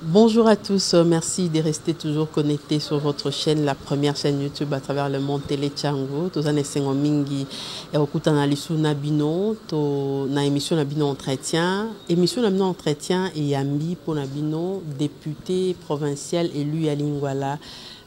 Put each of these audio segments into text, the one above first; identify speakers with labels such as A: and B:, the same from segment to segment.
A: Bonjour à tous, euh, merci de rester toujours connectés sur votre chaîne, la première chaîne YouTube à travers le monde Télé Chango. Tous les sengo mingi et au kuta na lisu na bino, to na émission na bino entretien, émission na bino entretien et yambi pour na bino député provincial élu à Lingwala.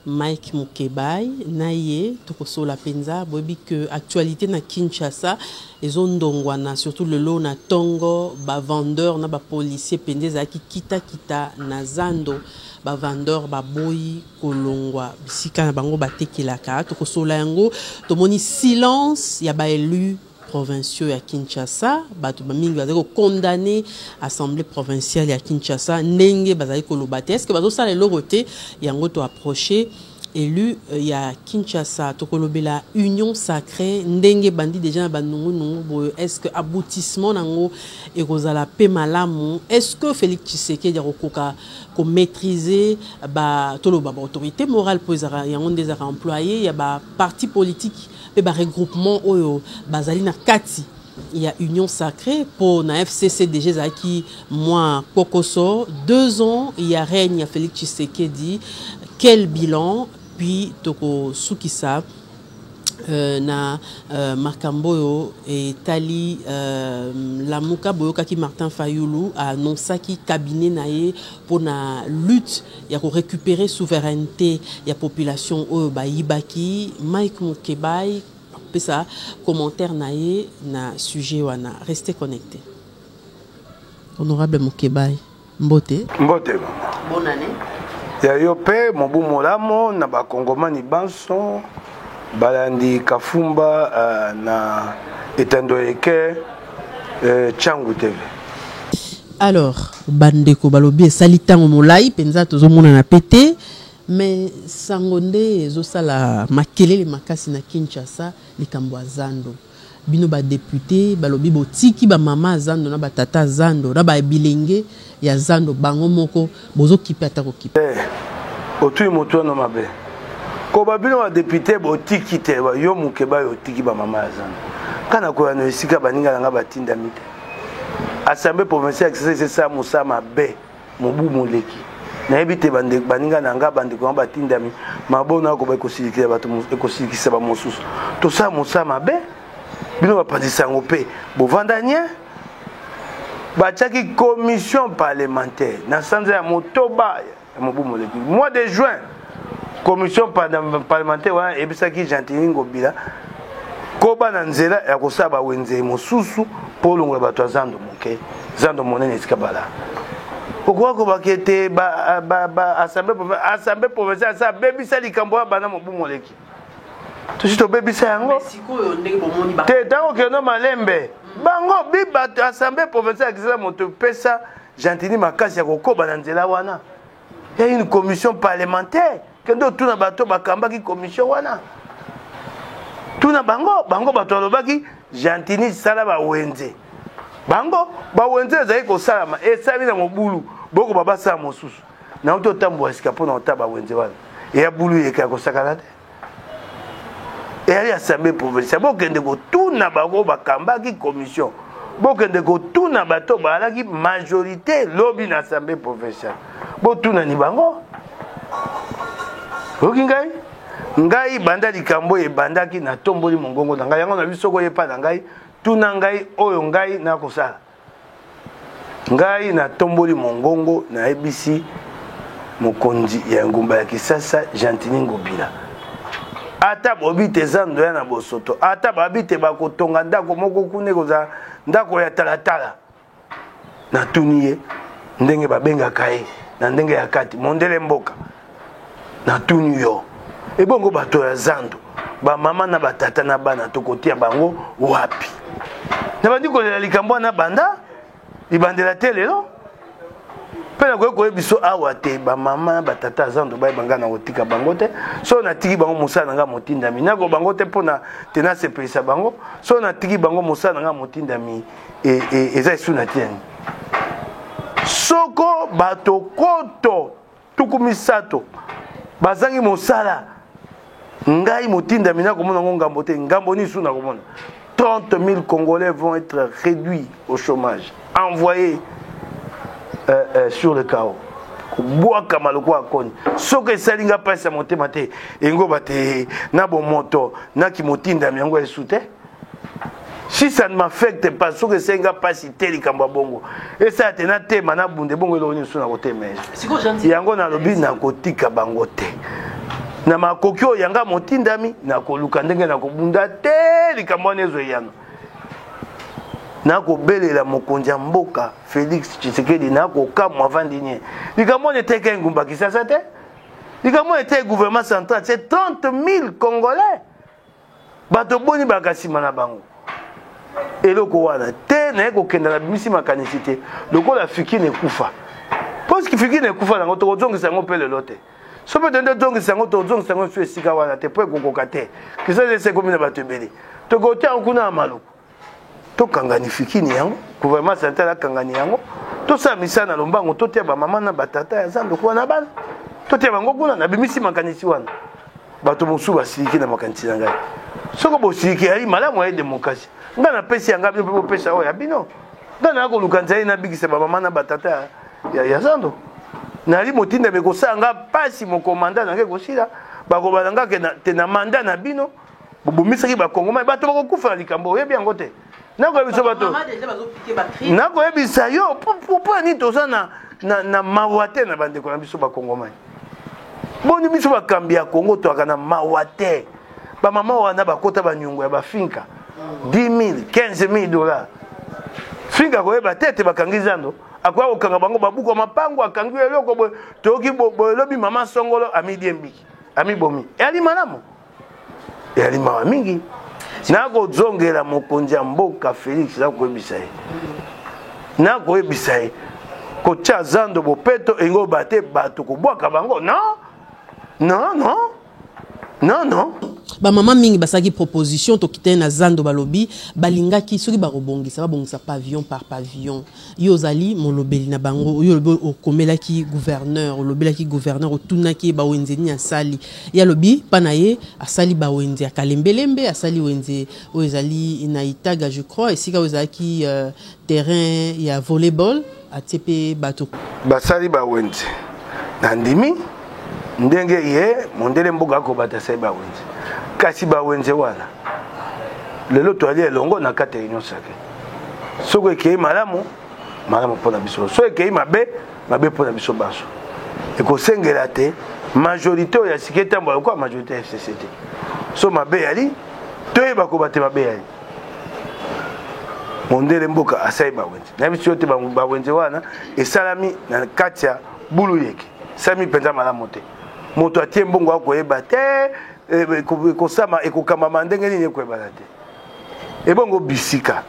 A: Mike Mukebayi na ye tokosolola penza boyebi que actualite na Kinshasa ezo ndongwana surtout lelo na tongo ba vendeurs na ba policiers penza ezalaki kita kita na zando ba vendeurs baboyi kolongwa bisika na bango batekelaka tokosolola yango tomoni silence ya ba elus provinciaux ya Kinshasa bato ba mingi bazali ko condamner assemblée provinciale ya Kinshasa ndenge bazali koloba te est-ce que bazosala eloko te yango to approcher élu euh, ya Kinshasa tokolobela union sacrée ndenge bandi déjà na banungunungu boye est-ce que aboutissement nango ekozala pe malamu est-ce que Félix Tshisekedi akokoka ko maîtriser ba toloba ba autorité morale po ezaka yango nde ezaka employé ya ba parti politique mpe ba regroupements oyo bazali na kati ya Union Sacree mpo na FCC deja ezalaki mwa kpokoso deux ans ya règne ya Felix Tshisekedi quel bilan puis tokosukisa Euh, na euh, makambo oyo etali euh, lamuka boyokaki martin fayulu anonsaki cabinet na ye mpo na lutte ya ko recuperer souverainete ya population oyo bayibaki. Mike Mukebayi akopesa commentaire na ye na sujet wana. Restez connectés. Honorable Mukebayi, mbote. Mbote mama. Bonne
B: année. Ya yo pe mobu molamo na bakongomani banso balandi Kafumba uh, na etando eke uh, Changu TV.
A: Alors, bandeko balobi esali tango molai penza tozomonana pe te mais sango nde ezosala makelele makasi na Kinshasa likambo ya zando. Bino ba depute balobi botiki ba mama zando na ba tata zando na ba bilenge ya zando bango moko Bozo kipe ata ko kipe. Te otui
B: moto wana mabe koba bino ba depute botiki te yo mukeba yo otiki ba mama ya zando kana koya na esika baninga na nga batindami te assemblée provinciale ya kisasa esesa mosala mabe mobu moleki nayebi te baninga na nga bandeko yango batindami mabona akoba ekosilikisa bato ekosilikisa bamosusu tosala mosala mabe bino bapanzisa yango mpe bovanda nie batiaki commission parlementaire na sanza ya motoba ya mobu moleki mois de juin commission parlementaire wana eyebisaki gentini ngobila koba na nzela ya kosala bawenze mosusu mpo olongola bato ya zando moke zando monene esika bala okoki kobaka ete assemblée provinciale asa abebisa likambo ya bana mobu moleki tosi tobebisa yango te ntango okende malembe bango biba assemblée provinciale ya kisasa moto epesa gentini makasi ya kokoba na nzela wana ya une commission parlementaire kende otuna bato bakambaki commission wana tuna bango bango bato balobaki gentini sala bawenze bango bawenze ezali kosalama esali na mobulu bokoba basala mosusu na uto tambua sika pona otaba wenze wana eya bulu yeka kosakana te eyali assemblée provinciale bokende kotuna bango bakambaki commission bokende kotuna bato bazalaki majorité lobi na assemblée provinciale botunani bango oyoki ngai ngai banda likambo oyo ebandaki natomboli mongongo na ngai yango na biso koyepa na ngai tuna ngai oyo ngai nakosala Ngai natomboli mongongo nayebisi mokonzi ya engumba ya Kisasa Gentini Ngobila ata bobi te zando ya na bosoto ata babi te bakotonga ndako moko kuna ekozala ndako ya talatala natuni ye ndenge babengaka ye na ndenge ya kati mondele mboka natuni yo ebongo bato ya zando bamama na batata na bana tokotia bango wapi nabandi kolela likambo wana banda libandela te lelo mpe nakoki koyebi biso awa te bamama na batata ya zando bayeba ngai na kotika bango te soki natiki bango mosala na ngai motindami nako bango te mpo na te nasepelisa bango soki natiki bango mosala na ngai motindami e, e, eza esu na tiani soko bato koto tuku misato bazangi mosala ngai motindami nakomona yango ngambo te ngambo nini su nakomona 30 000 congolais vont être réduits au chômage envoyés euh, euh, sur le chaos kobwakama lokola koni soki esali ngai mpasi ya motema te engoba te na bomoto na kimotindami yango esu te si ça ne m'affecte pas soki esengi nga mpasi te likambo ya bongo esala te natema nabunda ebongo eloko nini so nakotema yango nalobi nakotika bango te na makoki oyo yanga motindami nakoluka ndenge nakobunda te likambo wana ezwa eyano nakobelela mokonzi ya mboka félix tshisekedi nakokamwa avandi nie likambo wana eteka engumba kisasa te likambo wana eteki gouvernement central se 30 000 congolais bato boni bayaka nsima na bango eloko wana te naye kokenda na bimisi makanisi te lokola fikine ekufa poski fikine ekufa nango tokozongisa yango mpe lelo te so mpe tende tozongisa yango tozongisa yango esu esika wana te mpo ekokoka te kisasa esi ekomi na bato ebele tokotia yango kuna ya maluku tokanga nifikini yango gouvernement central akangani yango tosala misala na lombango totia bamama na batata ya zando kuwa na bana totia bango kuna nabimisi makanisi wana bato mosusu basiliki na makanisi na ngai soko bosiliki yai malamu aye demokrasi ngai napesi ya ngai bino mpe bopesa oyo ya bino ngai naa koluka nzali nabikisa bamama na batata ya, ya, ya zando nali motindami kosala ngai mpasi mokomanda na ngai ekosila bakobala ngai te na manda na bino bobomisaki bakongomani bato bakokufa na likambo oyebi yango te nakoyebisa bato nakoyebisa yo mpo nini toza na, na, na mawa te na bandeko na biso bakongomani boni biso bakambi ya kongo toyaka na mawa te bamama wana bakota banyongo ya bafinka 10 15000 dollars finka akoyeba te ete bakangi zando akoya kokanga bango babuku ya mapango akangi eloko boye toyoki boye lobi mama songolo amidie mbiki amibomi eyali malamu eyali mawa mingi nakozongela mokonzi ya mboka felix nakoyebisa ye nakoyebisa ye kotya zando bopeto engo ba te bato kobwaka bango non non non non non bamama mingi
A: basalaki proposition tokitani na zando balobi balingaki soki bakobongisa babongisa pavillon par pavillon Yo ozali molobeli na bango, yo olobi okomelaki gouverneur, olobelaki gouverneur, otunaki ye bawenze nini asali. Ye alobi pa na ye asali bawenze ya Kalembelembe, asali wenze oyo ezali na Itaga je crois, esika oyo ezalaki euh, terrain ya volleyball, atie pe bato. Basali bawenze.
B: Nandimi ndenge ye mondele mboka akobata asali bawenze. Kasi bawenze wana lelo toyali elongo na kati ya Union sacree. soki ekei malamu malamu mpo na biso soki ekei mabe mabe mpo na biso banso ekosengela te majorité oyo ya sika etambola lokola majorité ya fcc te so mabe eyali toyeba koba te mabe eyali mondele mboka asali bawenze nayebi biso te bawenze wana esalami na kati ya bulu yeke esalami mpenza malamu te moto atie mbongo akoyeba te eh, ekosama ekokambama ndenge nini ekoyebana te ebongo bisika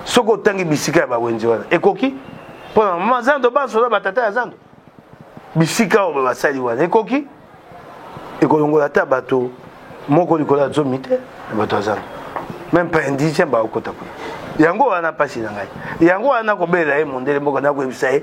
B: soki otangi bisika ya bawenze wana ekoki mpona mama zando banso na batata ya zando bisika oyo basali wana ekoki ekolongola ata bato moko likolo ya zomi te na bato ya zando meme pas indigène bakokota kuna yango wana mpasi na ngai yango wana nakobelela ye mondele mboka nakoyebisa ye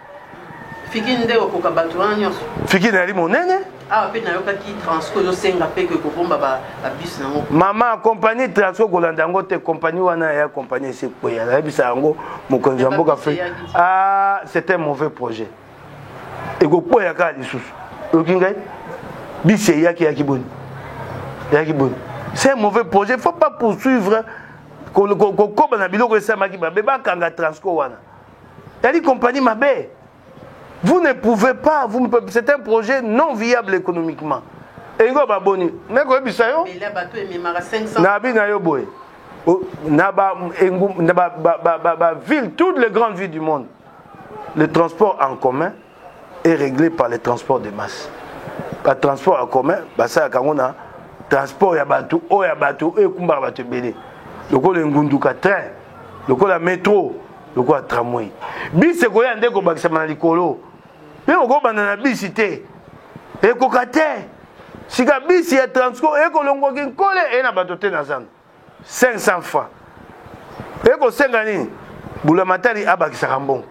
B: Fiki
A: nde okoka bato wana nyonso. Fiki nayali monene.
B: Awa pe nayokaki
A: Transco ezosenga pe ke kobomba ba bus nango. Mama compagnie
B: Transco kolanda yango te compagnie wana ya compagnie esi ekweya nayebisa yango mokonzi ya mboka fe ah c'est un mauvais projet ekokweya kaka lisusu oyoki ngai bisi eyaki eyaki boni eyaki boni c'est un mauvais projet faut pas poursuivre kokoba na biloko esalemaki babe bakanga Transco wana Tali compagnie mabe. Vous ne pouvez pas, vous ne pouvez, c'est un projet non viable économiquement. Engo baboni, mais ko bisa yo. Mais là bato ememaka 500. Na bi na yo boye. Na ba engo na ba ba ba ba ville toutes les grandes villes du monde. Le transport en commun est réglé par le transport de masse ba transport ya commun basalaka yango na transport ya bato oyo ya bato oyo ekumbaka bato ebele lokola engunduka train lokola metro lokola tramway bisi ekoya nde kobakisama na likolo mpe okobanda na bisi te ekoka te sika bisi ya transport ekolongwaki nkole eye na bato te na zando 500 francs eye kosenga nini bulamatari abakisaka mbongo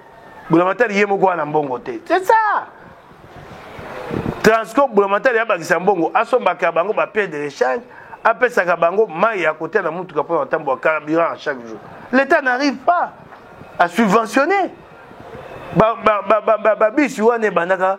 B: bulamatari ye moko wana mbongo te c'est ça transco bulamatari abakisa mbongo asombaka bango bapie de rechange apesaka bango mai ya kotia na motuka mpo na kotambola carburant chaque jour l'état n'arrive pas à subventionner babisi wana ebandaka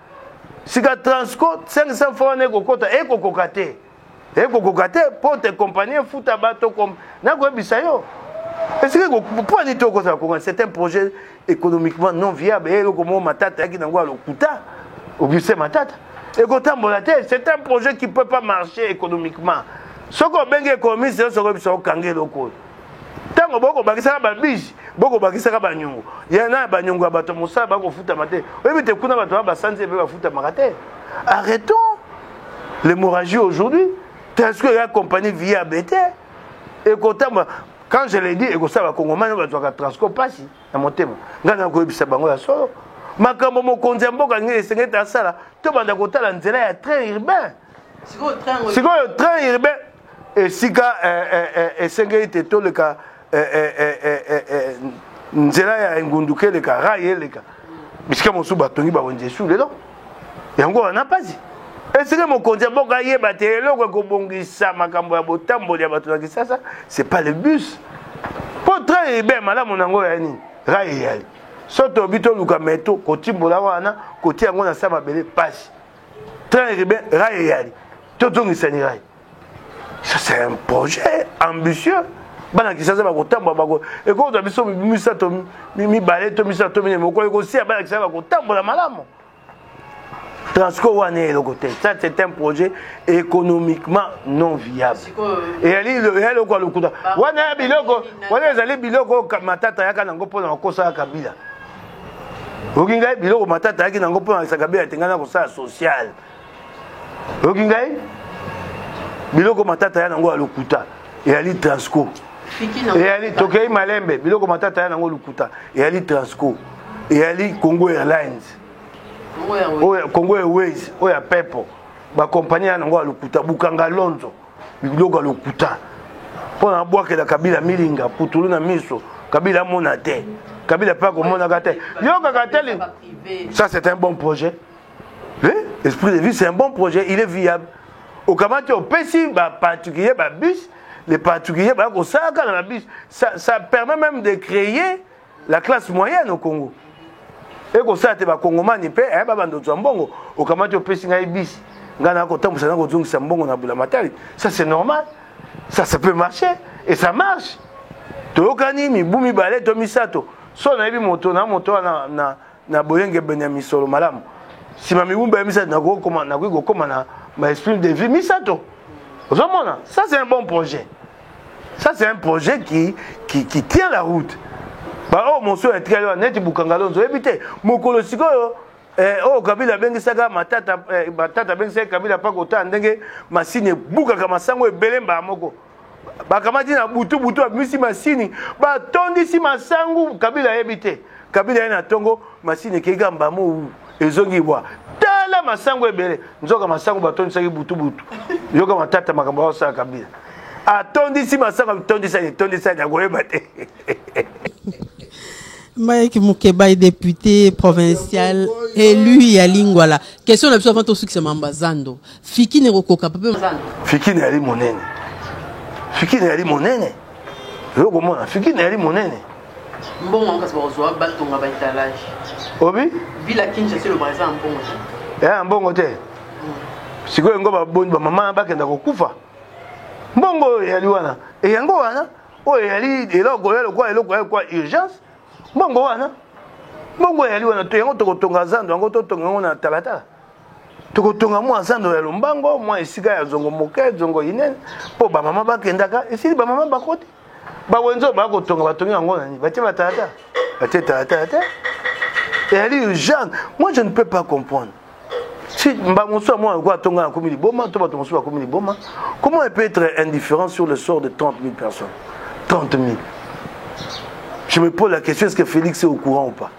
B: sika transco 500 franc wana ekokota ekokoka te ekokoka te mpo te kompani efuta bato nakoyebisa yo esika mpo ani te okozala konga c'est un projet économiquement non viable e eloko moko matata yaki nango ya lokuta auguste matata ekotambola te c'est un projet qui peut pas marcher économiquement soki obengi économiste yo soki oyebisa okange eloko oyo ntango bokobakisaka babiji bokobakisaka banyongo ya na banyongo ya bato ya mosala bakofutama te oyebi te kuna bato ba basanzi mpe bafutamaka te arrêtons l'hémorragie aujourd'hui telsque ya compagnie via bete ekotambola quand je le dis ekosala bakongomani bazwaka transco mpasi na motema ngai nakoyebisa bango ya solo makambo mokonzi ya mboka nini esengeli asala tobanda kotala nzela ya train urbain sikoyo train urbain esika eh, eh, eh, esengeli te toleka nzela ya engunduka eleka rai eleka bisika mosusu batongi bawenze esu lelo yango wana mpasi esika mokonzi ya mboka ayeba te eloko ekobongisa makambo ya botamboli ya bato na kisasa c'est pas le bus mpo train ebe malamu na yango ya nini rai eyali so tobi toluka meto kotimbola wana kotia yango na sa mabele mpasi tala eribe rayi eyali tozongisani rayi ça c'est un projet ambitieux bana kisasa bakotambola bako ekozwa biso misato mibale to misato to minei mokolo ekosia bana kisasa bakotambola malamu transport wana eloko te ça c'est un projet économiquement non viable eyali eloko ya lokuta wana ya biloko wana ezali biloko matata yaka nango mpo na kokosa ya kabila oyoki ngai biloko matata ayaki nango mpo na sakabela ete ngai nakosala social oyoki ngai biloko matata ya nango ya lokuta eyali transco eyali tokei malembe biloko matata ya nango lokuta eyali transco eyali congo airlines congo airways oyo ya pepo bakompani ya nango ya lokuta bukanga lonzo biloko ya lokuta mpo na abwakela kabila milinga putulu na miso kabila amona te kabila mpe akomonaka te yokaka te ça c'est un bon projet oui esprit de vie c'est un bon projet il est viable okamati opesi baparticulier babus les particulier baya kosalaka na babus ça permet même de créer la classe moyenne au congo ekosala te bakongomani mpe eh, babanda ozwa mbongo okamati opesi ngai bisi ngai nakotambusa na kozongisa mbongo na bulamatari ça c'est normal ça ça peut marcher et ça marche toyokani mibu mibale to misato so nayebi moto na moto wana na na boyengebene ya misolo malamu nsima miumba ya misato nakoki kokoma na baesprit de vie misato ozomona ça c'est un bon projet ça c'est un projet qui, qui, qui tient la route baoyo oh, mosusu etikali wana neti bukangalonzo oyebi te mokolo sikoyo eh, oyo oh, kabila abengisaka matata eh, matata abengisaki kabila mpa kotala ndenge masini ebukaka masango ebele mbala moko bakamati na butu butu babimisi masini batondisi masangu kabila ayebi te kabila ye na ntongo masini ekei kaka mbamou ezongi bwa tala masangu ebele nzoka masangu batondisaki butu butu yoka matata makambo aosala kabila atondisi masangu atondisani etondisani akoyeba te
A: Mike Mukebayi, député provincial élu ya Lingwala. Question la plus avant tout, c'est Mambazando. Fikine kokoka papa. Fikine yali monene.
B: Fikine yali monene. Yo komona Fikine yali monene. Mbongo
A: ankas bakozwa batonga ba etalage. Obi?
B: Bila Kinshasa
A: selo baza mbongo te. Eh mbongo te.
B: Mm. Sikoyo ngo baboni ba mama bakenda kokufa. Mbongo oyo yali wana. E yango wana oyo yali eloko ya lokola eloko ya kwa urgence. Mbongo wana. Mbongo yali wana to yango tokotonga zando yango totonga yango na talatala. tokotonga mwa zando ya lombango mwa esika ya zongo moke zongo inene mpo bamama bakendaka esili bamama bakoti bawenze oyo bakotonga batongi yango nani batie batalata batie talatala te ezali urgent moi je ne peux pas comprendre si mba mosusu ya mwana lokola atonga akomi liboma to bato mosusu bakomi liboma comment elle peut être indifférent sur le sort de 30 000 personnes 30 000 je me pose la question est ce que félix est au courant ou pas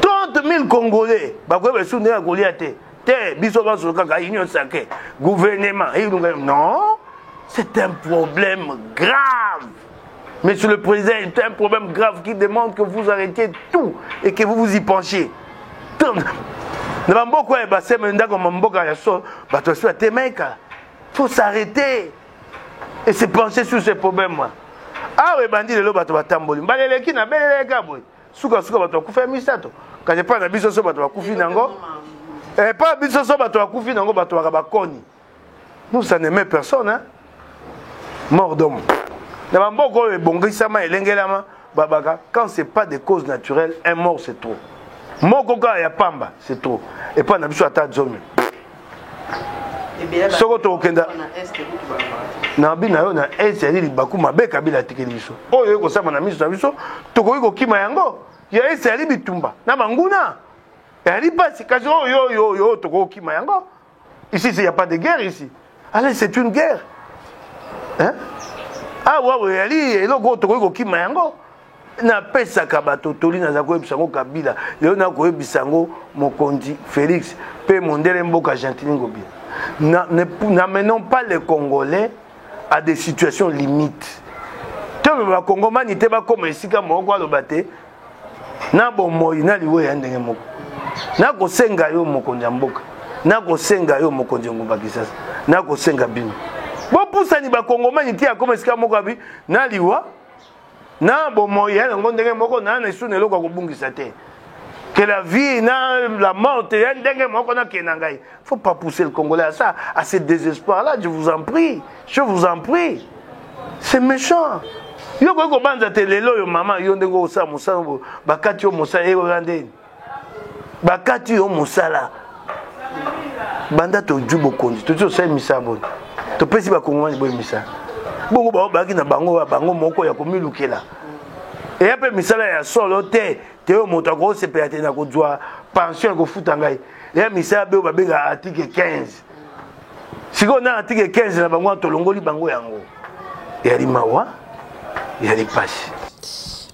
B: 30 000 congolais bakoyeba lisusu ndenge ya kolia te te biso banso kaka union sacré gouvernement eyilunga non c'est un problème grave monsieur le président c'est un problème grave qui demande que vous arrêtiez tout et que vous vous y penchiez na bamboka oyo baseme ndako mamboka ya so bato basi batemeka faut s'arrêter et se pencher sur ces problèmes là awa ebandi lelo bato batamboli mbala eleki na beleleka boye sukasuka bato bakufi ya misato kasi epai na biso so bato bakufi nango epai na biso so bato bakufi nango bato baka bakoni nous ça n'aime personne hein? mort d'homme na bamboka oyo ebongisama elengelama babaka quand c'est pas des causes naturelles un mort c'est trop moko kaka ya pamba c'est trop epai na biso ata zomi soko tokokenda na bi na yo na est yali libaku mabe kabila atikeli biso oyo ekosama na miso na biso tokoki kokima yango ya est yali bitumba na banguna yali mpasi kasi oyo oyo oyo tokoki kokima yango ici il y a pas de guerre ici allez c'est une guerre hein? awa ah, oyo yali eloko oyo tokoki kokima yango napesaka bato toli naza koyebisa yango kabila lelo nakoyebisa yango mokonzi félix mpe mondele mboka gentili ngobi n'amenons pas les congolais à des situations limites ntango bakongomani te bakóma esika moko aloba te na bomoi na liwa ya ndenge moko nakosenga yo mokonzi ya mboka nakosenga yo mokonzi ya ngumba kisasa nakosenga bino bopusani bakongomani te akóma esika moko abi na liwa na bomoi ya yango ndenge moko na na esu na eloko ya kobungisa te que la vie na la mort ya ndenge moko na ke na ngai faut pas pousser le congolais à ça à ce désespoir là je vous en prie je vous en prie c'est méchant yo koki kobanza te lelo oyo mama yo ndenge osala mosala bakati yo mosala eyoya ndeni bakati yo mosala banda tozwi bokonzi tozi tosali misala boni topesi bakongomani boye misala bongo bango bazalaki na bango ya bango moko ya komilukela eya mpe misala ya solo te te oyo moto akosepela te na kozwa pension ekofuta ngai eya misala be oyo babengaka article 15 sikoyo nani atike 15 na bango tolongoli bango yango yali mawa yali pasi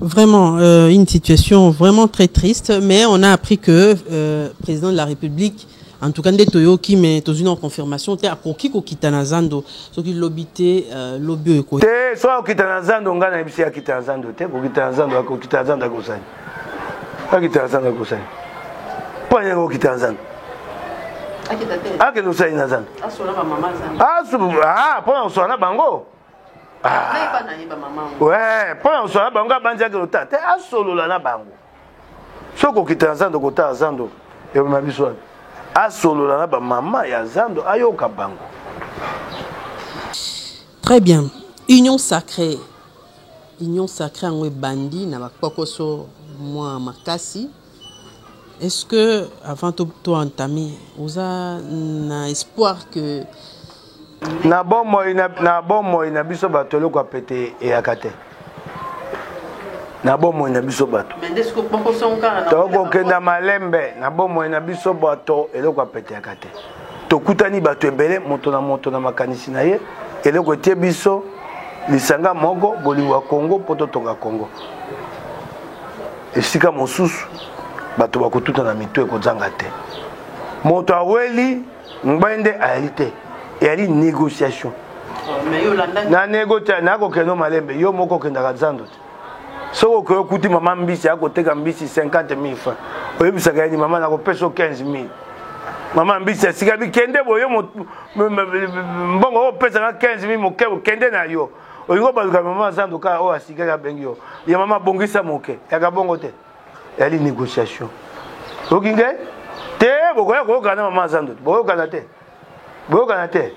B: Vraiment,
A: euh, une situation vraiment très triste, mais on a appris que euh, président de la République en tout cas nde toyoki mais tozwi na confirmation te akoki kokita na zando soki lobi te euh, lobi oyo ekoki te soki akokita na
B: zando ngai nayebisi akita na zando te kokita na zando akokita na zando akosani akita na zanga kosala panya yango okita na zanga akende osali na zanga
A: mpo na kosola na bango mpo na kosola
B: na bango abanzi akende otala te asolola na bango soki okita na zando kotala zando eboma biso wana asolola na bamama ya zando ayoka bango
A: Très bien. Union sacree. Union sacree yango ebandi na bakpokoso mwa makasi. Est-ce que avant to to entame oza na espoir que
B: na bomoi na, na bomoi na biso bato eloko ya pete eyaka te na bomoi na biso bato
A: tokokenda malembe
B: na bomoi na biso bato eloko apeteyaka te tokutani bato ebele moto na moto na makanisi na ye eloko etie biso lisanga moko bolingo ya kongo mpo totonga kongo esika mosusu bato bakotutana mitu ekozanga te moto aweli mobali nde ayali te eyali négociation na negotia nakokende malembe yo moko okendaka zando te soki okoki okuti mama mbisi akoteka mbisi 50 000 franc oyebisaka yeni mama nakopesa 15 000 mama mbisi asika bikende boyo mbongo oyo opesaka 15 000 moke okende na yo olingi obaluka mama zando kaka oyo asikaki abengi yo ya mama bongisa moke yaka bongo te yali négociation oki ngai te bokoya koyokana na mama azando boyokana te boyokana te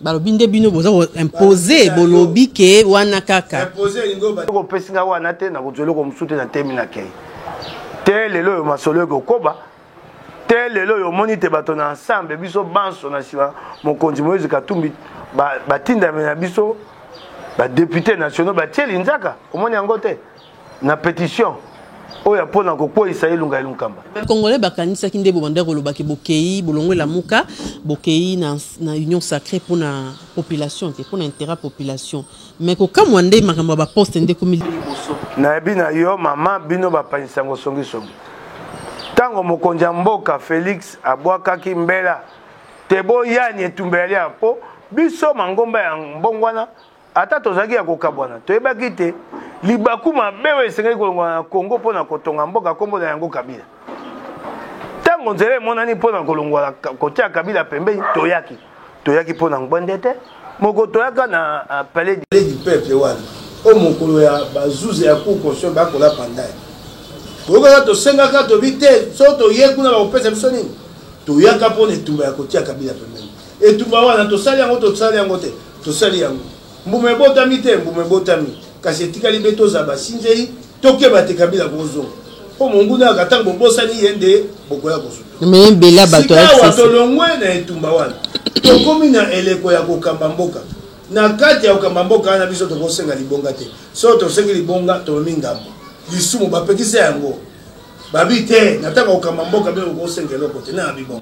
B: balobi nde bino
A: boza koimpose bolobi ke wana kaka
B: kopesi ngai wana te nakozwa eloko mosusu te na temi na kei te lelo oyo masolo ekokoba te lelo oyo omoni te bato na ensemble biso banso na nsima mokonzi moïse katumbi batindami na biso badepute nationaux batie linzaka omoni yango te na petition oyo mpo na kokweisa elunga ya lunkamba congolais bakanisaki
A: nde bobanda kolobaki bokei bolongo elamuka bokei na, na union sacrée mpo na population te mpo na intérêt population mais kokamwa nde makambo ya baposte nde ekomi liboso nayebi na
B: yo mama bino bapangisango songisongi ntango mokonzi ya mboka félix abwakaki mbela te boyani etumba ya lia mpo biso mangomba ya mbongwana Ata tozalaki ya kokabwana, toyebaki ete libaku mabe oyo esengeli kolongwa na Congo mpo na kotonga mboka nkombo na yango Kabila. Ntango nzela emonani mpo na kolongwa kotia Kabila pembeni, toyaki toyaki mpo na ngbwende te moko toyaka na euh, palais du peuple wana o mokolo ya bazuzi ya cour constitution bakola pandai toyokaka tosengaka tobi te so toye kuna bakopesa biso nini toyaka mpo na etumba ya kotia kabila pembeni etumba wana tosali yango tosali yango te Tosali yango. Mbuma ebotami te, mbuma ebotami. Kasi etikali be tozala basinzeli, tokeba te Kabila akozonga. Mpo monguna yaka ntango bobosani ye nde bokoya kosuta. Sikawa
A: tolongwe
B: na etumba wana. Tokomi na eleko ya kokamba mboka. Na kati ya kokamba mboka wana biso tokosenga libonga te. Soki tosengi libonga, tomemi ngambo. Lisumu bapekisa yango. Babi te, na ntango ya kokamba mboka bino bokosenga eloko te. Nani abi bongo?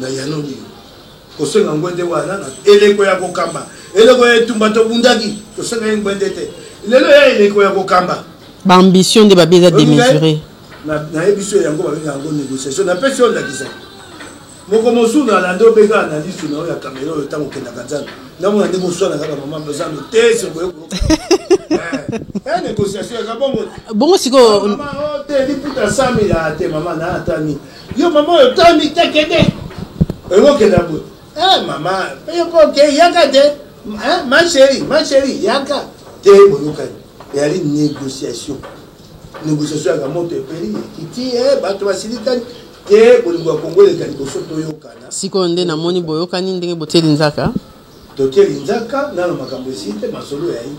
B: Nayanoli yo. Kosenga ngwende wana na eleko ya kokamba. Eleko ya etumba tobundaki. Tosenga ye ngwende te. Lelo ya eleko ya kokamba. Ba ambition
A: nde babi eza demesuré. Nayebi
B: so yango babenga yango négociation. Napesi yo ndakisa. Moko mosusu na lande obeka analyse na yo ya kamera oyo ntango okendaka nzambe. Namona ndenge oswanaka ba mama bazambe te se boye ko. Eh, négociation ya kabongo. Bongo sikoyo.
A: Mama ote
B: liputa 100 000 ate mama na atani. Yo mama oyo tami te kende. Oyo kenda boye. Eh mama, yo po ke yaka te. Hein, ma chérie, ma chérie, yaka te boyokani. Yali négociation. Négociation ya moto epeli kiti eh bato basilikani te bolingo ya Kongo eleka liboso toyokana. Sikoyo nde namoni
A: boyokani ndenge botieli nzaka. Totieli
B: nzaka nano makambo esili te masolo ya ye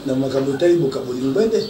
B: na makambo etali bokabolingo ete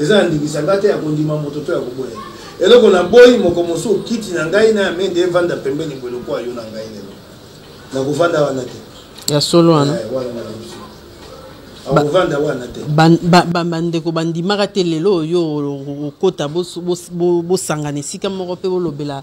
B: Eza na ndingisa nga te ya kondima moto to ya koboya ye. Eloko na boyi moko mosusu kiti na ngai na ya mende evanda pembeni boye lokola yo na ngai lelo. Na kovanda wana te. Ya solo wana.
A: Eh, wana na biso.
B: Akovanda wana te. Ba ba ba bandeko
A: bandimaka te lelo oyo okota bosangana esika moko pe bolobela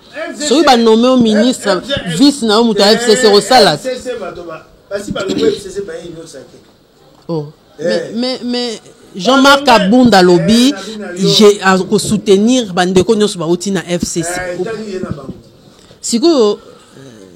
A: soki ba nomme yo ministre vice na yo moto ya fcc osala te oh.
B: mais, mais,
A: mais jean-marc abunda alobi akosoutenir bandeko nyonso bauti na fcc sikoyo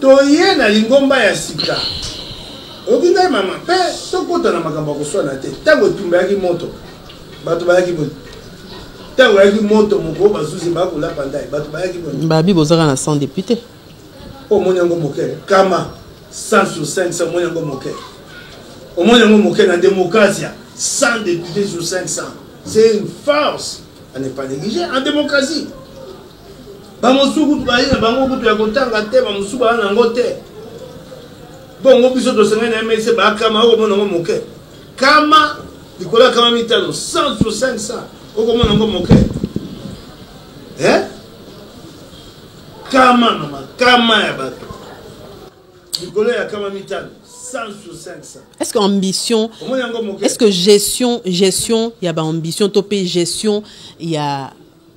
B: Toye na lingomba ya sika. Oyoki ngai mama? Mpe tokota na makambo ya koswana te. Ntango etumba eyaki moto, bato bayaki boye. Ntango eyaki moto moko, bazuzi baya kolapa ndai, bato bayaki boye. Babi bozaka na 100
A: depute. Omoni
B: yango moke? Kama 100 sur 500, omoni yango moke? Omoni yango moke na demokrasia? 100 depute sur 500. C'est une farce. On n'est pas négligé en démocratie. Ba mosusu kutu bazali na bango kutu ya kotanga te, ba mosusu bazali na yango te. Bongo biso tosengeli na MSC bakama, okomona yango moke kama likolo ya kama mitano 100 sur 500 okomona yango moke eh? kama mama kama ya bato likolo ya kama mitano est ce que ambition
A: est ce que gestion gestion ya baambition to mpe gestion ya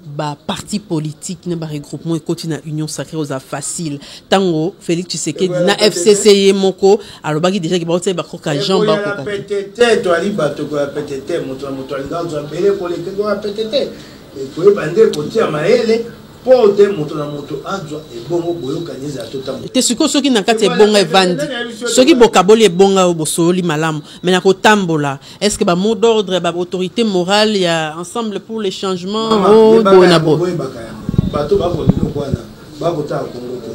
A: ba parti politique na ba regroupement ekoti na union sacrée oza facile tango Félix Tshisekedi na FCC ye moko alobaki déjà ke baotia ba koka Jean ba koka petete to ali
B: bato ko petete moto na moto alinga zo mbele ko leke ko petete ko yeba nde ko tia maele po te moto na moto azwa ebongo boyokani ezala totambo te sikoyo soki na kati
A: ya ebonga evandi soki bokaboli ebonga oyo bosololi malamu me na kotambola Est-ce que ba mot d'ordre ba autorité morale ya ensemble pour le changement oh boye na boye bato
B: bako biloko wana bakotala kongo te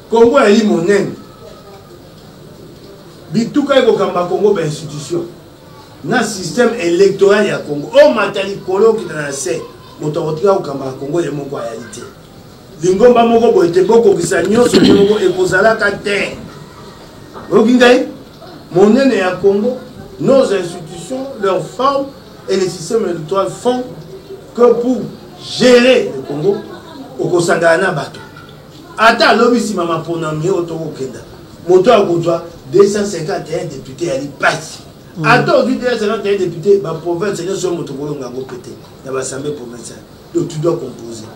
B: kongo yali monene bituka ekokamba kongo bainstitution na système électoral ya kongo omata likolo okita na se moto akotika kokamba ya kongo ye moko ayali te Lingomba moko boye te, bokokisa nyonso te moko ekozalaka te. Oyoki ngai? Monene ya Congo, nos institutions, leur forme et les systèmes électoraux font que pour gérer le Congo, okosangana na bato. Ata alobi nsima maponami oyo tokokenda, moto akozwa 251 depute ya lipasi. Mm. Ata ozwi 251 depute, baprovince nyonso oyo moto okolonga yango pete na basambe provinciale. Donc tu dois composer.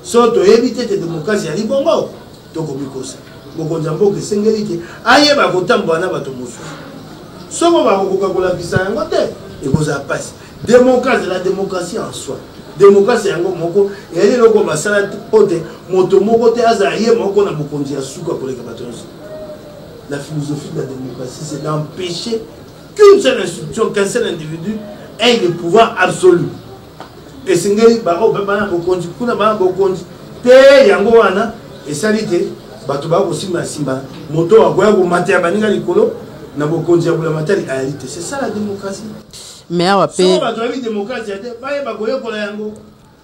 B: So toyebi te te demokrasi yali bongo tokomikosa. Mokonzi ya mboka esengeli te ayeba kotambola na bato mosusu. Soko bakokoka kolakisa yango te ekozala mpasi. Demokrasi la demokrasi en soi. Demokrasi yango moko eyali eloko basala mpo te moto moko te azala ye moko na bokonzi ya suka koleka bato nyonso. La philosophie de la démocratie, c'est d'empêcher qu'une seule institution, qu'un seul individu ait le pouvoir absolu. Esengeli baoyo baba na bokonzi kuna bana bokonzi te, yango wana esali te bato baya kosimba nsimba moto akoya komata ya baninga likolo na bokonzi ya bulamatali ayali te c'est ça la démocratie mais awa
A: pe soko bato bayebi démocratie
B: te bayeba koyekola yango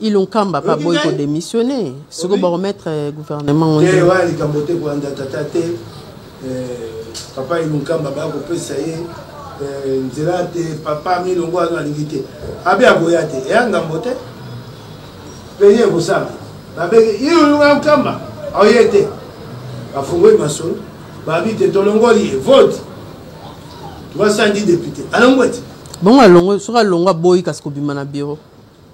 B: ilunkamba
A: pa boyi kodémissionne soko bakomettre gouvernement oyo wana likambo te
B: kolanda tata te papa ye monkamba baya kopesa ye nzela te papa milongo ano alingi te abe akoya te eya ngambo te peni ekosala babenge iyoyunga nkamba aoye te bafungoli masolo babi te tolongoli ye vote tokasandi depute alongwe te bongo alongwe
A: soki alongwe aboyi kasi kobima na biro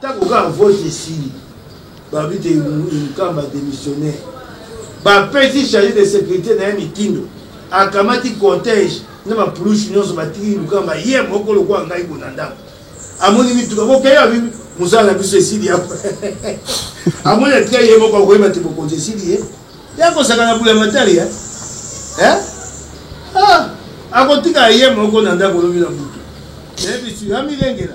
A: Tango kaka
B: vote esili balobi te Nkamba a demissionner, bapesi charge de securite na ye mitindo, akamati cortège na ba pulusu nyonso batiki Nkamba ye moko lokola ngai bo na ndako, amoni mituka bokei abi mosala na biso esili ya amoni atika ye moko akoyeba te bokonzi esili ye ye akosaka na bula matari ya eh? ah! akotika ye moko na ndako lobi na butu nayebi sika amilengela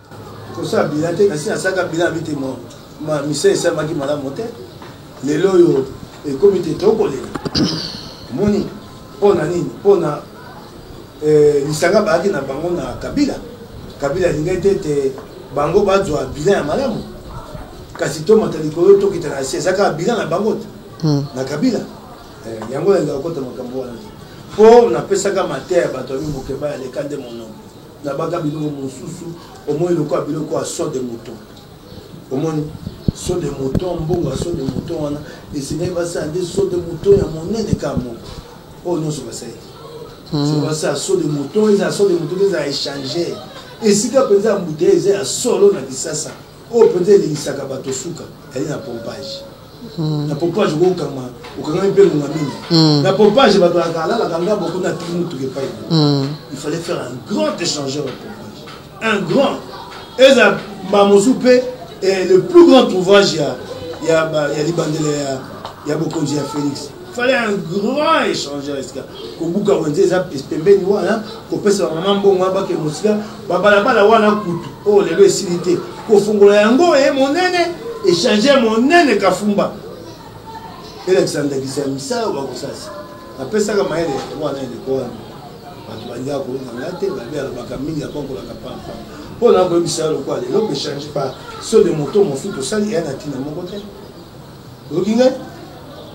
A: Kosala bilan te kasi nasalaka bilan ya bite ma misala esalemaki malamu te lelo oyo ekomi te tokolela omoni mpo na nini mpo na eh, lisanga bayaki na bango na kabila kabila alingaki te ete bango bazwa bilan ya malamu kasi tomata likolo tokita na se eza kaka bilan na bango te hmm. na kabila eh, yango nalingaka kota makambo wana te mpo napesaka mateya ya bato ya mimokeba ya leka nde monoko Na baka biloko mosusu omoni lokola biloko ya saut de mouton. Omoni saut de mouton, mbongo ya saut de mouton wana esengeli basala nde saut de mouton ya monene kaka moko. Oyo nyonso basali. Hmm. C'est pas ça saut de mouton, eza saut de mouton eza échanger. Esika penza ya mbute eza ya solo na Kisasa. Oyo penza elingisaka bato suka ezali na pompage. Na pompage okoki kokangama, okangami mpe ngonga mingi. Na pompage bato balaka alalaka ngambo kuna atiki motuka epai na ye. Il fallait faire un grand echangeur ya pompage. Un grand! Ezala mbala mosusu mpe le plus grand trouveage ya ya ba ya libandela ya ya bokonzi ya Felix. Il fallait un grand echangeur esika kobuka wenze eza pembeni wana, kopesa ba mama mbongo wana bakende mosika. babalabala wana kutu oyo oh, lelo esili te kofungola yango eye monene echange monene kafumba elakisa ndakisa ya misala oyo bakosasa napesaka mayele wana eleko wana bato balingaka kolonga nga te babe alobaka mingi akonkolaka pampa mpo na koyebisa ya lokola lelo bechange pa so de moto mosuki osali eya na ntina moko te Oyoki ngai?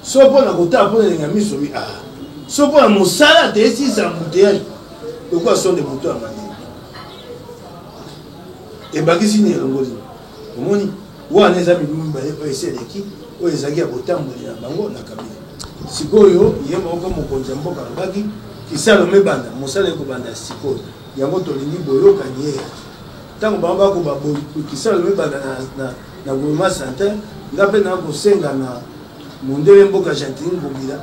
A: Soki mpo na kotala mpo na elengi ya miso mi ah. Soki mpo na mosala te esisa na bouteillage lokola sonde moto ya mani. Ebakisi nini elongoli? Omoni wana eza mibu mibale oyo esi eleki oyo ezalaki ya botamboli na bango na kabila. Sikoyo ye moko mokonzi ya mboka alobaki kisalo mibanda mosala ekobanda sikoyo yango tolingi boyokani ye ntango bango bakoba kisalo mibanda na Na Guluma Satin, nga pe na ko senga na mondele mboka Gentiny Ngobila,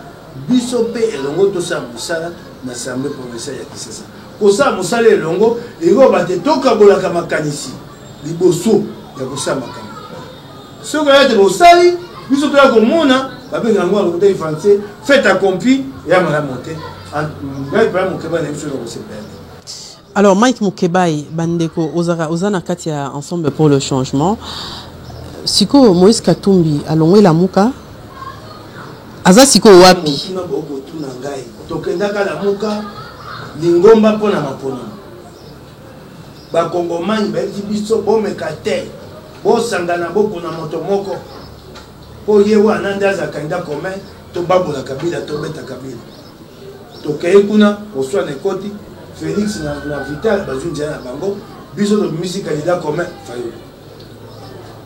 A: biso pe elongo to sala mosala na Assemblee provinciale ya Kisasa. Ko sala mosala elongo elingi koloba te to kabolaka makanisi liboso ya ko sala makambo. Soki oya te bosali, biso toya ko mona ba benga yango na lokuta ya français fait accompli, eya malamu te. Ngai pe na mokeba na biso na ko sepela te. Alors Mike Mukebayi, bandeko ozaka oza na kati ya ensemble pour le changement. Siko Moïse Katumbi alongwe lamuka. Aza siko wapi? Kima boko tuna ngai.
B: Tokendaka lamuka lingomba mpo na maponami. Bakongomani bayebi biso bomeka te. Bosangana bokuna moto moko. Mpo ye wana nde azalaka nda commun tobabola Kabila tobeta Kabila. tokei kuna koswa na ekoti felix na, na vital bazwi nzela na bango biso tobimisi candidat commun fayulu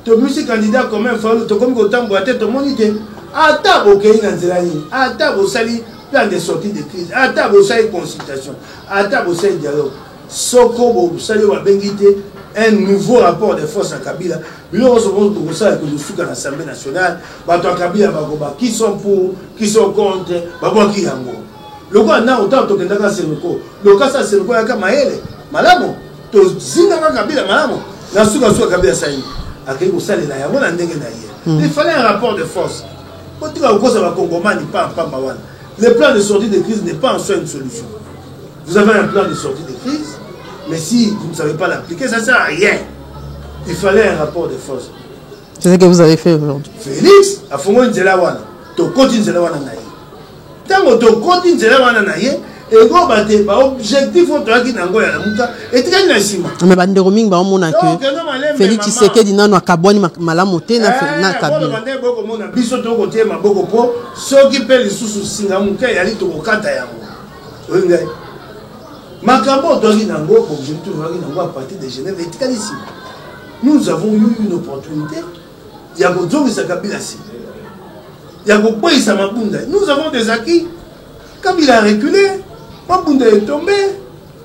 B: tobimisi candidat commun fayulu tokomi kotambola te tomoni te ata bokei na nzela nini ata bosali plan de sortie de crise ata bosali consultation ata bosali dialogue soko bosali oyo babengi te un nouveau rapport de force ya kabila Biloko nyonso oyo tokosala ekosuka na Assemblee nationale. Bato ya Kabila bakoba qui sont pour, qui sont contre, babwaki yango. Lokola nao ntango tokendaka Senoko, lokasa ya Senoko yaka mayele malamu, tozingaka Kabila malamu, na sukasuka Kabila asali akei kosalela yango na ndenge na ye. Hmm. Il fallait un rapport de force. Botika kokosa bakongomani pamba pamba wana. Le plan de sortie de crise n'est pas en soi une solution. Vous avez un plan de sortie de crise, mais si vous ne savez pas l'appliquer, ça ne sert à rien. Il fallait un rapport de force. C'est ce que vous
A: avez fait aujourd'hui. Félix, à Fongo
B: Nzelawana, Tokoti Nzelawana Naye. Tango Tokoti Nzelawana Naye, ekoba te baobjectif oyo toyaki na yango ya lamuka etikali na nsima me bandeko mingi baomona
A: ke félix tshisekedi nano akabwani malamu te na eh, kabila bokomona biso
B: tokotie maboko mpo soki mpe lisusu singa moke eyali tokokata yango oyo ngai makambo otwaki na yango bobzeli tozalaki na yango a partir de genève etikali nsima nous avons eu une opportunité ya kozongisa kabila nsima ya kokweyisa mabunda nous avons des acquis kabila recule mabunda etombe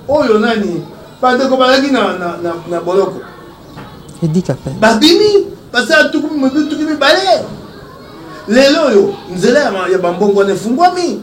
B: oyo nani bandeko bazalaki na, na, na, na boloko
A: babimi basala
B: tuku mibale lelo oyo nzela ya bambongo wana efungwami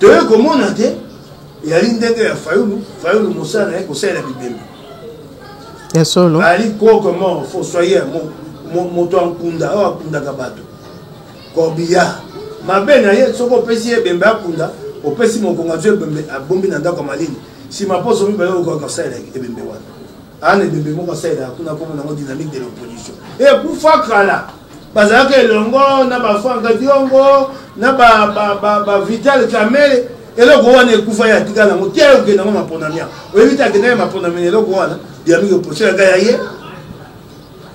B: toye komona te eyali ndenge ya fayulu fayulu mosala na ye kosalela bibembe
A: ya solo ali koko mort
B: fossoyer moto ya nkunda oyo akundaka bato corbillard mabe na ye soki opesi ye ebembe akunda opesi mokongo azwi ebembe abombi na ndako ya malili nsima mposo mibale okoka kosalela ebembe wana Ana ebembe moko asalelaka kuna kombo nango dynamique de l'opposition ekufa kala bazalaka elongo na bafranka diongo na bavital kamele eloko wana ekufa ye atika nango te okende yango maponamia oyebi te akenda ye maponamia eloko wana dynamique opposition yaka ya ye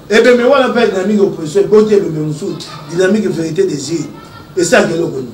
B: ebembe wana mpe dynamique opposition eboti ebembe mosusu dynamique vérité des îles esaka eloko nini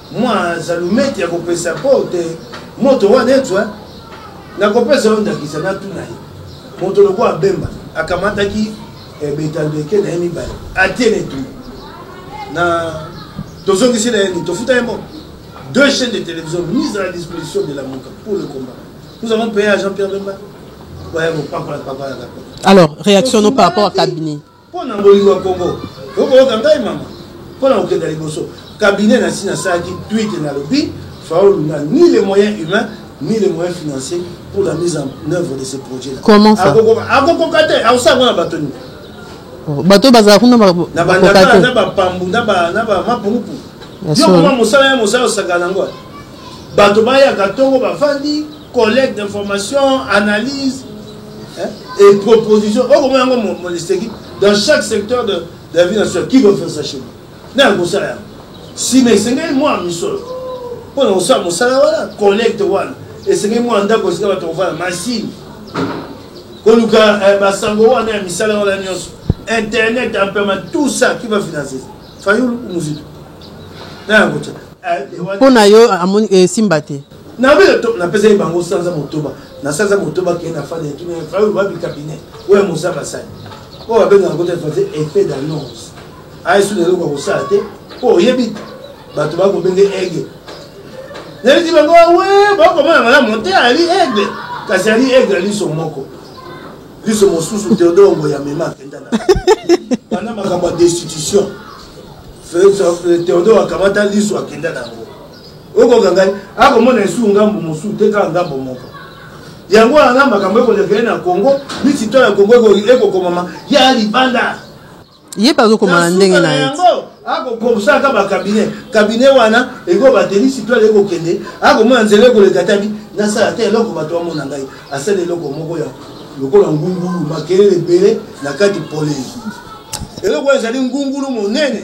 B: Mua zalumeti ya kopesa po te moto wana etswa. Nakopesa yo ndakisa, natuna ye moto lokola Bemba akamataki eh, betandeke na ye mibale atie na etumbu na tozongisi na ye nini tofuta ye moko deux chaînes de télévision mise à la disposition de la Mouka pour le combat. Nous avons payé à Jean-Pierre Bemba.
A: Alors, réaction non par rapport à cabinet. Mpo na kolinga
B: Congo, okoyoka ngai mama. Mpo na kokenda liboso, cabinet na si nasalaki tweet na lobi Faulu na ni les moyens humains ni les moyens financiers pour la mise en œuvre de ce projet là. Comment ça?
A: Akokoka te, akosala ngo na bato nini? Oh, bato bazala kuna bakoka te. Na bandakala, na bapambu, na ba na ba mapungupu. Yo koma mosala ya mosala osaka na ngo.
B: Bato bayaka ntongo bafandi collecte d'information analyse et proposition okomona yango molisteki dans chaque secteur de la vie nationale qui veut faire ça chez moi na kosala yango nsima esengeli mwa misolo mpo na kosala mosala wana collecte wana esengeli mwa ndako esika bato kovanda masini koluka eh, basango wana ya misala wana nyonso internet ampema tout ça qui va financer fayulu muzito na yango tya eh,
A: mpo na yo amoni esimba eh, te Na bino to
B: na pesa bango sanza motoba. Na sanza motoba ke na fane tout na fa ba bi cabinet. Oya moza basali. Oya benga ko te faze effet d'annonce. Ayi sou lelo ko sala te. Po oyebi bato ba ko benge ege. Na bisi bango we ba ko mona mala monte ali ege. Kasi ali ege ali so moko. Liso mosusu Theodore Ngoya mema akenda na. Bana makambo ya destitution. Theodore akamata liso akenda na yango. okoka ngai akomona esu ngambo mosusu te kaka ngambo moko yango wana na makambo ekoleka ye na congo misito ya congo ekokomama ya libanda ye mpe
A: azokoma na ndenge na ye akokosalaka
B: bakabinet kabinet wana ekobateli sitoile ekokende akomona nzela ekoleka tabi nasala te eloko bato bamona ngai asala eloko moko ya lokola ngungulu makelele ebele na kati polei eloko ezali ngungulu monene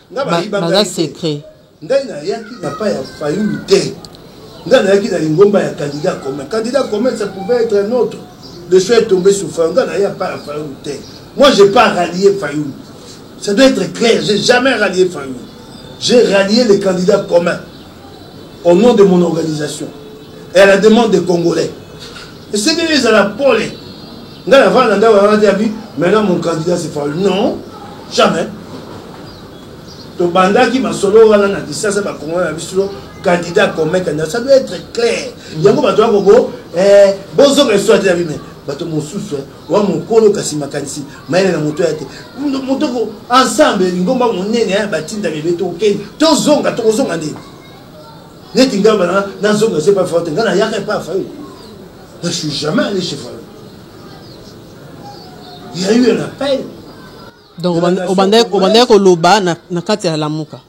A: Nga ba yiba nga secret. Nga ina yaki
B: na pa ya fayulu te. Nga na yaki na lingomba ya candidat commun. Candidat commun ça pouvait être un autre. Le choix est tombé sur fayulu. Nga na ya pa ya fayulu te. Moi j'ai pas rallié fayulu. Ça doit être clair. J'ai jamais rallié fayulu. J'ai rallié les candidats communs. au nom de mon organisation et à la demande des congolais esengeli ezala pole ngai navanda na ndako yanga te abi maintenant mon candidat c'est falu non jamais tobandaki masolo wana na kisasa bakongolais na biso candidat commun candidat ça doit être clair yango bato ya kobo eh, bozoka esoya te na bime bato mosusu eh, wa mokolo kasi makanisi mayele na moto ya te motoko ensemble lingomba monene ya batinda bebe tokokende tozonga tokozonga nde neti ngai bana nazonga se pafayo te ngai nayaka epa ya fayo je suis jamais allé chez fayo il y a eu un appel donc
A: obandaki koloba na kati ya lamuka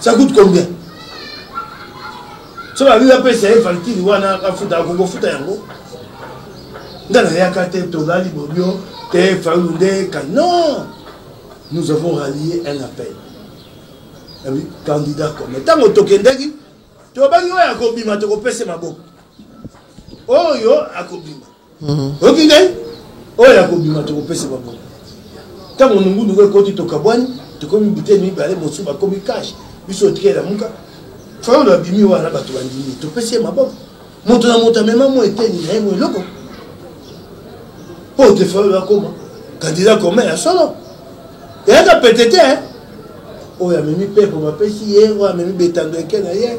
B: Ça coûte combien soki alingi apesa ye valkiri wana afuta akoki ofuta yango nga nayaka te tolali bobio te fayulu nde ka non nous avons rallié un appel yabi candidat comme ntango tokendaki tobaki oyo akobima tokopese maboko oyo akobima Mhm. oyoki ngai oyo ya kobima tokopesa bango ntango mongundu ngo ekoti tokabwani tokomi biteni mibale mosusu bakomi kashe biso otikela muka fayolo abimi wana bato bandimi topesi ye maboko moto na moto amema mo eteni na ye mo eloko mpo te fayolo akoma kandida koma ya solo eyaka pete te oyo amemi mpepo bapesi ye oyo amemi betando eke na ye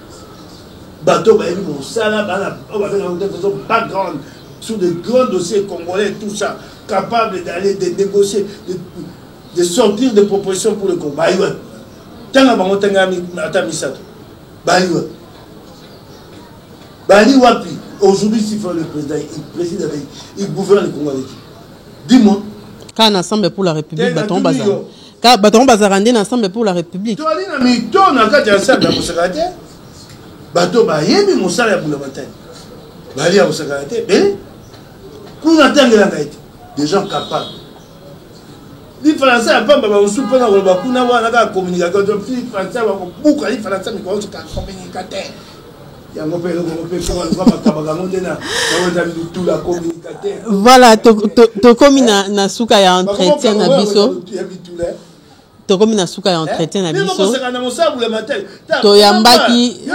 B: bato bayebi mosala bana oyo babengaka te façon background sur de grands dossiers congolais tout ça capable d'aller de négocier de, de sortir des propositions pour le congo bayi wapi ntanga bango ntanga ata misato bayi wapi bali wapi aujourd'hui s'il faut le président il préside avec il gouverne le congo avec dis-moi kana ensemble
A: pour la république baton bazala Ka bato yango bazalaka nde na ensemble pour la république toali na mito
B: na kati ya ensemble ya kosaka te bato bayebi mosala ya bulamatali bali ya kosakana te be kuna atangela ngai te des gens capables lifalansa ya pamba bamosusu mpo na koloba kuna wana kaka communication ti falansa bakobuka lifalansa mikolo sika communicateur
A: Voilà, tokomi na na suka ya entretien na biso. tokomi na suka ya eh? entretien na biso toyambaki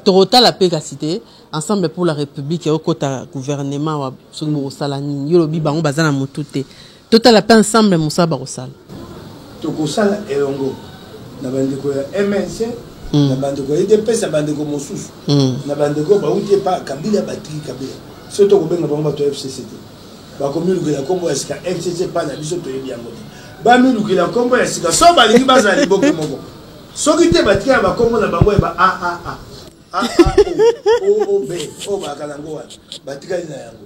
A: tokotala mpe kasi te ensemble pour la république ekokota gouvernement wa soki bokosala nini yo lobi bango baza na motu te Totala pe ensemble mosala bakosala. Tokosala
B: elongo na bandeko ya MNC, mm. na bandeko ya UDPS, na bandeko mosusu, mm. na bandeko bauti epa Kabila, batiki Kabila. Soki tokobenga bango bato ya FCC te, bakomilukela nkombo ya sika FCC epai na biso toyebi yango te. Bamilukela nkombo ya sika so balingi bazala liboke moko, soki te batikala bakombo na bango ya ba aaa AAO, OOB, oyo bakala yango wana batikali na yango.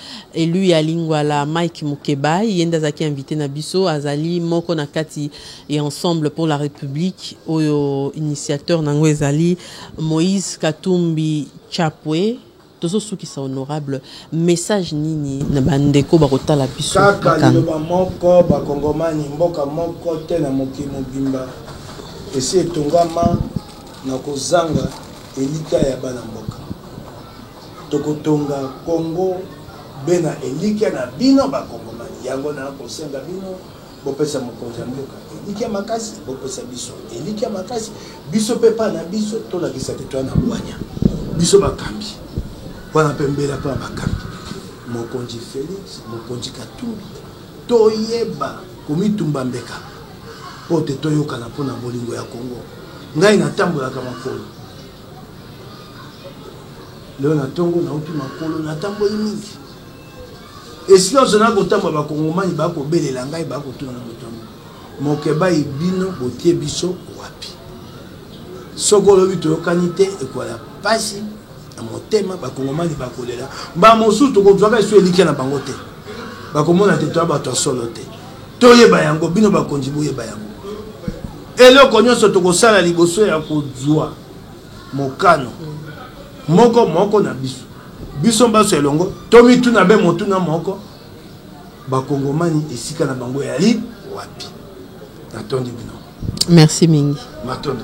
A: Elu ya Lingwala Mike Mukebayi ye nde azalaki invite na biso, azali moko na kati ya Ensemble pour la Republique oyo initiateur na yango ezali Moïse Katumbi Chapwe. Tozosukisa honorable, message nini na bandeko bakotala biso na kaka kanda? liloba moko
B: bakongomani mboka moko te na mokili mobimba esi etongama na kozanga elikya ya bana mboka Toko tonga Congo be na elikya na bino ba Congomani. Yango na kosenga bino bopesa mokonzi ya mboka elikya makasi, bopesa biso elikya makasi, biso pe epai na biso tolakisa te toya na bwanya. Biso bakambi wana pe mbela mpo na bakambi mokonzi Felix, mokonzi Katumbi, toyeba komitumba mbeka mpo te toyokana mpo na bolingo ya Congo. Ngai natambolaka makolo lelo na ntongo nauti makolo natamboli mingi esika ozo na kotamba bakongomani bakobelela ngai bakotuna na moto yango mokebai bino botie biso wapi soki olobi toyokani te ekola mpasi na motema bakongomani bakolela mbaa mosusu tokozwaka esu elikya na bango te bakomona te toya bato ya solo te toyeba yango bino bakonzi boyeba yango Eloko nyonso tokosala liboso ya kozua mokano moko moko na biso, biso banso elongo tomituna be motuna moko, bakongomani esika na bango eyali wapi? Natondi bino. Merci
A: mingi.
B: Matondo.